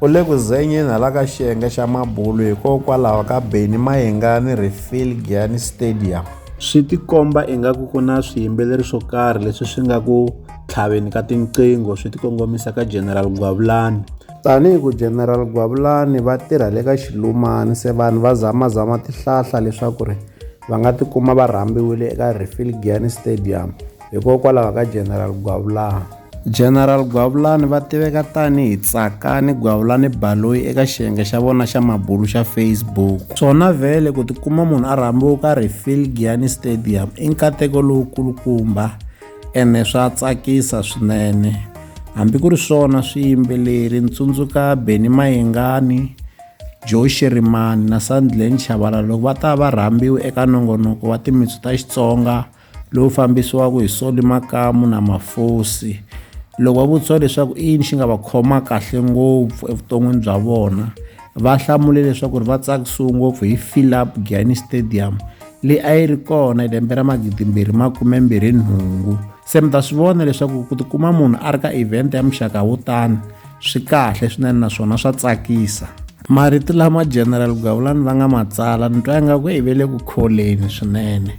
U le ku zenyeni hala ka xiyenge xa mabulu hikokwalaho ka Benny Mayengani Refill Giyani Stadium. Swi tikomba ingaku ku na swiyimbeleri swo karhi leswi swi nga ku tlhaveni ka tinqingho swi tikongomisa ka General Gwavulani. Tanihi ku General Gwavulani va tirha le ka Xilumani se vanhu va zamazama tihlahla leswaku ri va nga tikuma va rhambiwile eka Refill Giyani Stadium hikokwalaho ka General Gwavulani. General Gwavulani va tiveka tani hi Tsakani Gwavulani Baloyi eka xiyenge xa vona xa mabulu xa Facebook. Swona vhele ku tikuma munhu a rhambiwe u karhi Phil Giani Stadium i nkateko lowukulukumba ene swa tsakisa swinene. Hambi ku ri swona swiyimbeleri ni tsundzuka Benny Mayengani, Joe Shirimani na Sandlane Chabalala loko va ta va rhambiwe eka nongonoko wa timitsu ta Xitsonga lowu fambisiwaka hi Solly Makamu na Mafosi loko va vutisiwa leswaku i yini xi nga va khoma kahle ngopfu evuton'wini bya vona va hlamule leswaku ri va tsakisiwe ngopfu hi Philip Gianni Stadium leyi a yi ri kona lembe ra magidimbirhi makumembirhi nhungu se mi ta swi vona leswaku ku tikuma munhu a ri ka event ya muxaka wo tani swi kahle swinene naswona swa tsakisa marito lama general gavulani va nga ma tsala ni twa ingaku i ve le ku kholeni swinene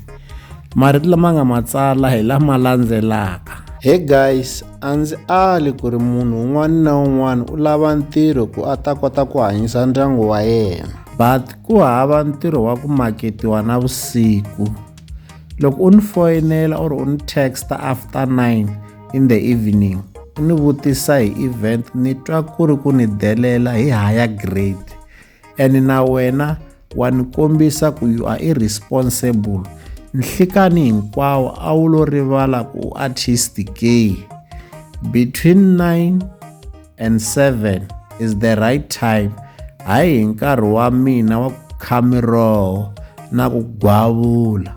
marito lama nga ma tsala hi lama landzelaka he guys a ndzi ali ku ri munhu un'wana na un'wana u lava ntirho ku a ta kota ku hanyisa ndyangu wa yena but ku hava ntirho wa ku maketiwa na vusiku loko u ni foyinela or u ni texta after nine in the evening u ni vutisa hi event ni twa ku ri ku ni delela hi higher grade and na wena wa ni kombisa ku you are irresponsible nhlikani hinkwawo a wu lo rivala ku u artist ke between 9 and 7 is the right time hayi hi nkarhi wa mina wa ku kha miroho na ku gwavula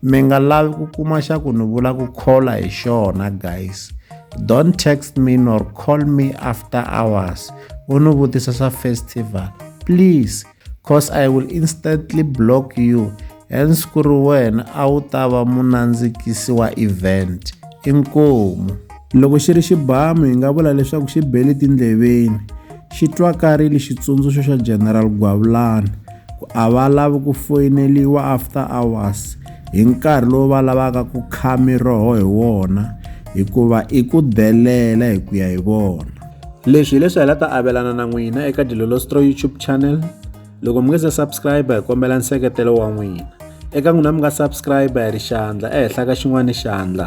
mi nga lavi ku kuma xa ku ni vula ku khola hi xona guys don't text me nor call me after hours u ni vutisa swa festival please cause i will instantly block you hence ku ri wena a wu ta va munandzikisi wa event inkomu Loko xi ri xibamu hi nga vula leswaku xi bele tindleveni, xi twakarile xitsundzuxo xa General Gwavulani ku a va lavi ku foyineliwa after hours hi nkarhi lowu va lavaka ku kha miroho hi wona hikuva i ku delela hi ku ya hi vona. Leswi hileswi hi la ta avelana na n'wina eka Dilolostro YouTube channel. Loko mi nga se subscribe hi kombela nseketelo wa n'wina. Eka n'wina mi nga subscribe hi ri xandla ehenhla ka xin'wana xandla.